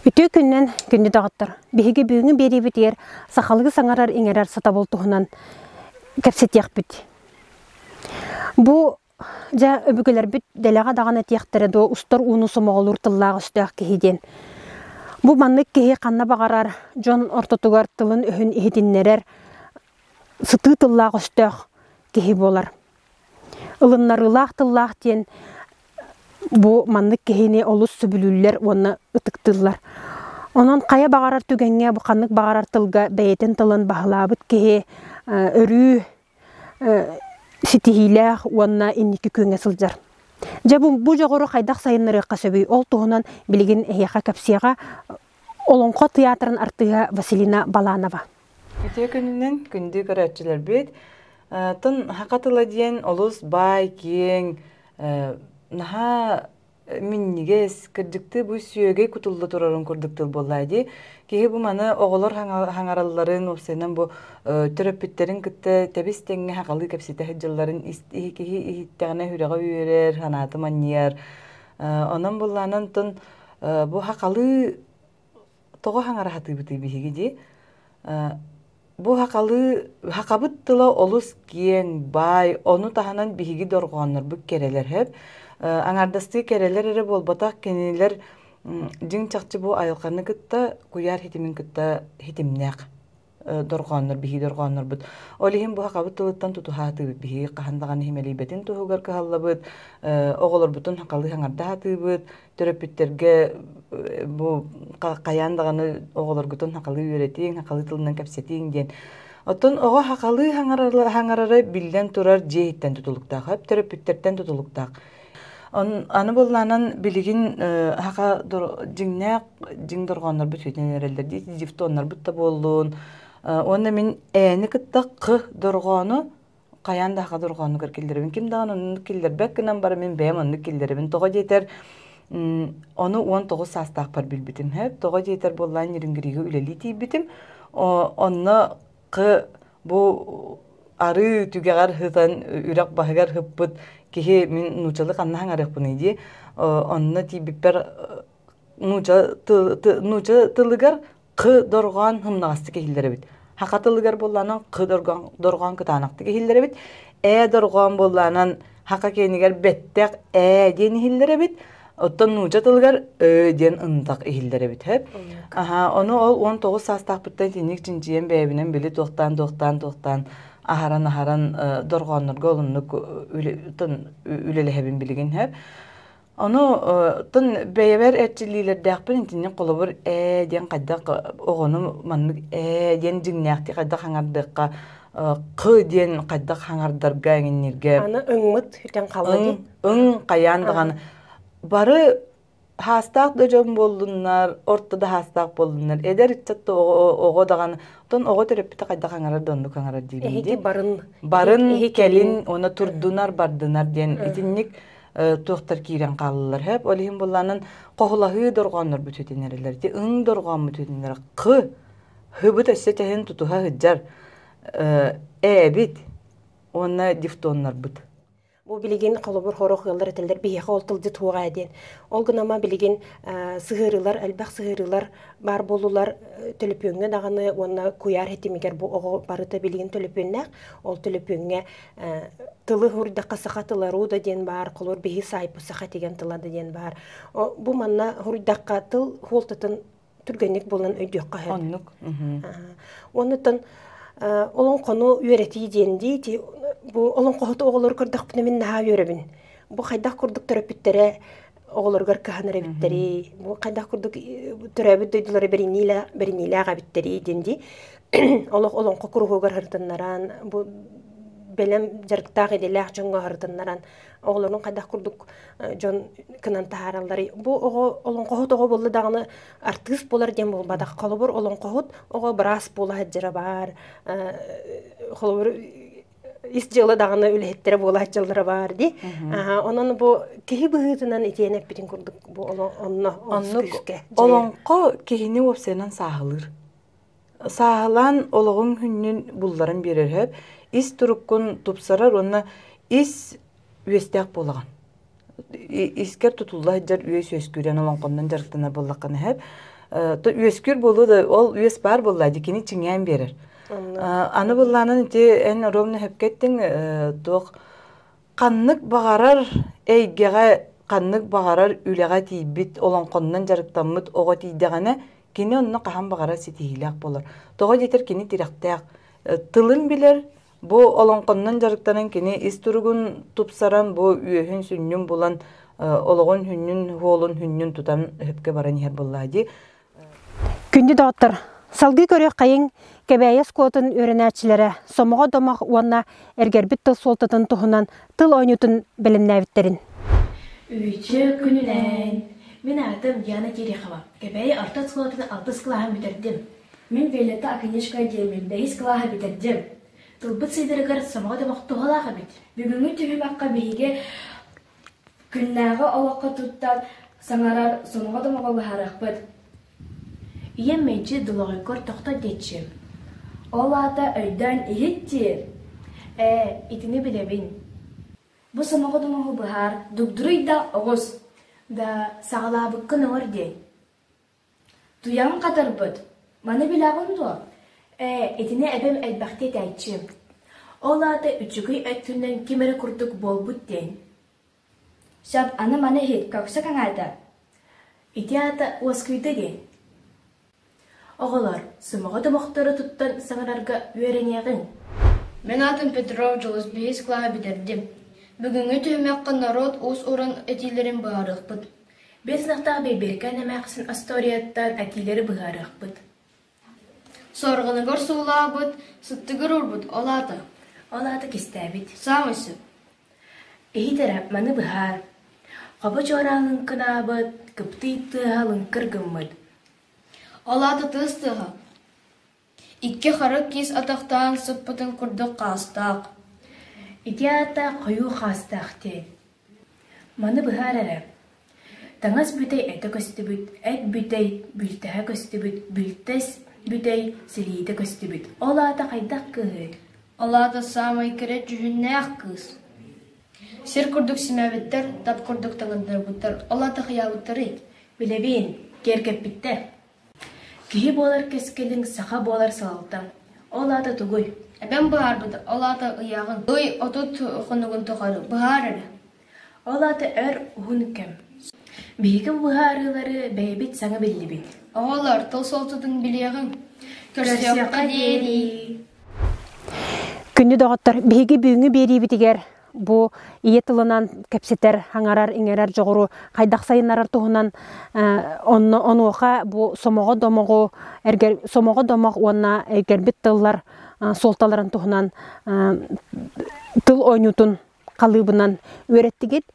Үтүө күннэн күндү доҕоттор! Биһиги бүгүҥҥү биэриибитигэр сахалыы саҥарар-иҥэрэр сатабыл туһунан кэпсэтиэхпит. Бу дьэ өбүгэлэрбит дэлэҕэ даҕаны этиэхтэрэ дуо устар ууну сомоҕолуур тыллаах-өстөөх киһи диэн. Бу маннык киһи ханна баҕарар дьон ортотугар тылын-өһүн иһитиннэрэр, сытыы тыллаах-өстөөх киһи буолар. Ылыннарыылаах тыллаах диэн бу маннык киһини олус сөбүлүүллэр уонна ытыктыыллар. Онон хайа баҕарар түгэҥҥэ ханнык баҕарар тылга бэйэтин тылын баһылаабыт киһи өрүү ситиһиилээх уонна инники күөҥҥэ сылдьар. Дьэ бу дьоҕуру хайдах сайыннарыахха сөбүй? Ол туһунан билигин эһиэхэ кэпсиэҕэ Олоҥхо театрын артыыһа Василина Баланова. Үтүө күнүнэн күндү көрөөччүлэрбит. тын Саха тыла диэн олус баай, киэҥ, наһаа минньигэс, кырдьыктыы бу сүөгэй кутулла турарын курдук тыл буоллаҕа дии. Киһи бу маны оҕолор хаҥаралларын, уопсайынан бу төрөппүттэрин кытта тэбис-тэҥҥэ сахалыы кэпсэтэ сылдьалларын киһи иһиттэҕинэ сүрэҕэ үөрэр, санаата манньыйар. онон буоллаҕына тын бу сахалыы тоҕо хаҥараһатыыбытый биһиги дии бу хахалыы хахабыт тыла олус киэҥ баай ону таһынан биһиги дорҕооннорбут кэрэлэрһэп аҥаардастыы кэрэлэр эрэ буолбатах кинилэр дьиҥ чахчы бу айылҕаны кытта куйаар хитимин кытта хитимнээх дорҕооннор биһиги дорҕооннорбут ол иһин бу сахабыт тылыттан тутуһаатыбыт биһиги хаһан даҕаны иһимэлийбэтин туһугар кыһаллабыт оҕолорбутун халыы аҥардаатыыбыт төрөппүттэргэ бу хайаан даҕаны оҕолоргутун хахалыы үөрэтииҥ хахалыы тылынан кэпсэтииҥ диэн оттон оҕо хахалыы хаҥарара биллэн турар дьиэһиттэн тутулуктаах төрөппүттэртэн тутулуктаах Аны быллаанан билигин аха дьиҥнээх дьиҥ дорҕооннорбут сүтэн эрэллэр дии дифтоннорбут да буоллун уонна мин ээни кытта кы дорҕоону хайаан да аха дорҕооннугар киллэрэбин ким даҕаны оннук киллэрбэк гынан баран мин бэйэм оннук киллэрэбин тоҕо диэтэр ону уон тоҕус саастаахпар билбитим тоҕо диэтэр буоллаан ньирингиригэ үлэлии тиийбитим онно бу арыы түгэҕэр сытан үрэх баһыгар сыппыт киһи мин нууччалыы ханна саҥарыахпыный дии онно тиийбиппэр нуучча тылыгар х дорҕоон сымнаҕастык иһиллэр эбит саха тылыгар буоллаанан х дорҕоон кытаанахтык иһиллэр эбит ээ дорҕоон буоллаанан Хака киэнигэр бэттэх ээ диэн иһиллэр эбит. Оттон нууча тылыгар «ө» диэн ынтах иһиллэр эбит хөп. Аһаа, ону ол уон тоҕус саастаахпыттан итинник чинчийэн бэйэбинэн били туохтаан туохтаан туохтаан аһаран-аһаран дорҕооннорго олуннук үлэлэһэбин билигин хөп. Ону тын бэйэбэр эрчиллиилэрдээхпин итинник холобур ээ диэн хайдах оҕону маннык ээ диэн дьиҥнээхтик хайдах хаҥардыахха q диэн хайдах хаҥардарга эҥинниргэ аны ыңмыт итин халлаҥ ың хайаан даҕаны бары хаастаах да дьон буоллуннар орто да хаастаах буоллуннар эдэр ыччат да оҕо даҕаны оттон оҕо төрөппүтэ хайдах хаҥарар да оннук хаҥарар диибин эһиги барын барын кэлин уонна турдунар бардынар диэн итинник туохтар киирэн хааллылар хөп ол иһин булланын хоһулаһыы дорҕооннор бүтүтүнэрилэр ти ың дорҕоон бүтүтүнэрэ х хыбыт өссе тэһин тутуха сыдьар ээбит уонна дифтоннарбыт Бу билигин холобур хорох ыаллар этэллэр биһиэхэ ол тылды туоҕаа диэн. Ол гынама билигин сыһыарыылар, элбэх сыһыарыылар баар болулар төлөпүөҥҥэ даҕаны уонна куйаар хэтимигэр бу оҕо барыта билигин төлөпүөннээх. Ол төлөпүөҥҥэ тылы хурдахха саха тыла руда диэн баар холор биһи саайпы саха тигэн тылада диэн баар бу манна хурдахха тыл хуолтатын түргэнник булан өйдүөххэ сөп оннук оннутан олоҥхону үөрэтии диэн диити бу олоҥхоһут оҕолору көрдөхпүнэ мин наһаа үөрэбин бу хайдах курдук төрөппүттэрэ оҕолоругар кыһанар эбиттэрий бу хайдах курдук төрөөбүт дойдулары бэриниилээх эбиттэрий диэн дии олох олоҥхо куруһугар хартыннаран бу бэлэм дьарыктаах идэлээх дьоҥҥо хартыннаран оҕолорун хайдах курдук дьон кынан таһаараллар бу оҕо олоҥхоһут оҕо буолла даҕаны артыыс буолар диэн буолбатах холобур олоҥхоһут оҕо быраас буола сылдьара баар холобур ис дьыала даҕаны үлэһиттэрэ буолаат дьаллара баар дии. Онон бу киһи быһыытынан итиэн эппитин курдук бу онно оннук олоҥхо киһини уопсайынан сааһылыыр. Сааһылаан олоҕуҥ хүннүн булларан биэрэр ис туруккун тупсарар уонна ис үөстээх буолаҕын. искэр тутулла сылдьар үөс үөскүүрэн олоҥхоннон дьарыктанар буоллаххына сөп үөскүүр буолуо да ол үөс баар буоллаа дикини чиҥээн биэрэр аны быллаанын ити эн оруобуна сөпкө эттиҥ туох ханнык баҕарар эйгэҕэ ханнык баҕарар үлэҕэ тиийбит олоҥхоннон дьарыктаммыт оҕо тиийдэҕинэ кини онно хаһан баҕарар ситиһиилээх буолар тоҕо диэтэр кини тирэхтээх тылын билэр Бу олоҥхоннон дьарыктанан кини ис туругун тупсаран, бу үөһүн-сүнньүн булан, олоҕун хүннүн, уолун хүннүн тутан өһөпкө баран иһэр буоллаҕа дии. Күндү доҕоттор, салгыы көрүөххэйиҥ Кэбээйи оскуолатын үөрэнээччилэрэ сомоҕо домох уонна эргэрбит тыл суолтатын туһунан тыл оонньуутун бэлэмнээбиттэрин. Үчүг күнүнэн! Мин аатым Диана Терехова. Кэбээйи орто оскуолатын алтыс кылааһын бүтэрдим. Мин Виолетта Акинешка диэмин бэһис кылааһы бүтэрдим. Тылбыт сыйдарыгар сомоҕо да бохтуһалаах эбит. Бүгүҥҥү түһүмэххэ биһиги күннээҕи олоххо туттан саҥарар, сомоҕо да моҕоллаһарыахпыт. Ийэм мэлдьи долоҕойгор тохтот диэччим. Ол аата өйдөөн иһит диир. Ээ, итини билэбин. Бу сомоҕо домоҕу быһаар, дугдуруй да оҕус. Да саҕалаабыккын ылар диэн. Туйаҕын хатарбыт, маны билэҕин дуо, ээ, итини эбэм элбэхтик этээччи, ол аата үчүгэй өттүнэн ким эрэ курдук буолбут диэн Шам аны-маны иһит көхсө каҥаата. Ити аата уоскуйда диэн. Оҕолор, сымаҕа тобохтору туттан саҥарарга үөрэниэҕиҥ. Мин аатым Петров Дьулус биһис кылааһы бүтэрдим. Бүгүҥҥү түһүмэххэ норуот уус-уран этиилэрин быһаарыахпыт. Биэс сыахтаах Бэйбиэркээн эмээхсин остуоруйаттан этиилэри быһаарыахпыт Сорҕоногор суулаабыт, сыттыгыр урбут, ол аата? Ол аата кистээбит. Саамай сөп. Иһитэрэ маны быһаар. Хобо чуораалын кынаабыт, кыптыый тыаһа лыҥкыр гыммыт. Ол аата тыас тыаһа. Икки харах киис атахтаан сыппытын курдук хаастаах Ити аата хойуу хаастаах диэн. Маны быһаар эрэ, таҥас бүтэй этэ көстүбүт, эт бүтэй бүлтэһэ көстүбүт, бүлтэс бүтэй силиитэ көстүбүт. Ол аата хайдах кыыһый? Ол аата саамай кэрэ дьүһүннээх кыыс. Сир курдук симээбиттэр, тат курдук таҥыннарбыттар, ол аата хайаабыттарый? Билэбин, киэргэппиттэр. Киһи буолар кэскилиҥ саха буолар салалтаҥ. Ол аата тугуй? Эбэм быһаарбыт, ол аата ыйааҕын. Ый отут хонугун тухары быһаар эрэ. Ол аата өр уһун кэм. Биһигин быһаарыылары бэйэбит саҥа биллибит. Оҕолор, тыл суолтутун билиэҕиҥ. Көрсүөххэ диэри. Күндү доҕоттор, биһиги бүгүҥҥү биэриибитигэр бу ийэ тылынан кэпсэтэр, хаҥарар, иҥэрэр дьоҕуру хайдах сайыннарар туһунан онно онуоха бу сомоҕо домоҕу эргэр сомоҕо домох уонна эргэрбит тыллар суолталарын туһунан тыл ойуутун халыыбынан үөрэттигит.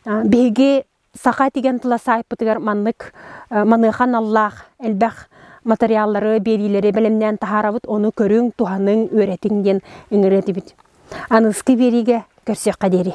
Биһиги Саха тигэн тыла саайпытыгар маннык маныаха аналлаах элбэх материаллары, биэриилэри бэлэмнээн таһаарабыт, ону көрүҥ, туһаныҥ, үөрэтиҥ диэн ыҥырыр этибит. Аныгыскы биэриигэ көрсүөххэ диэри.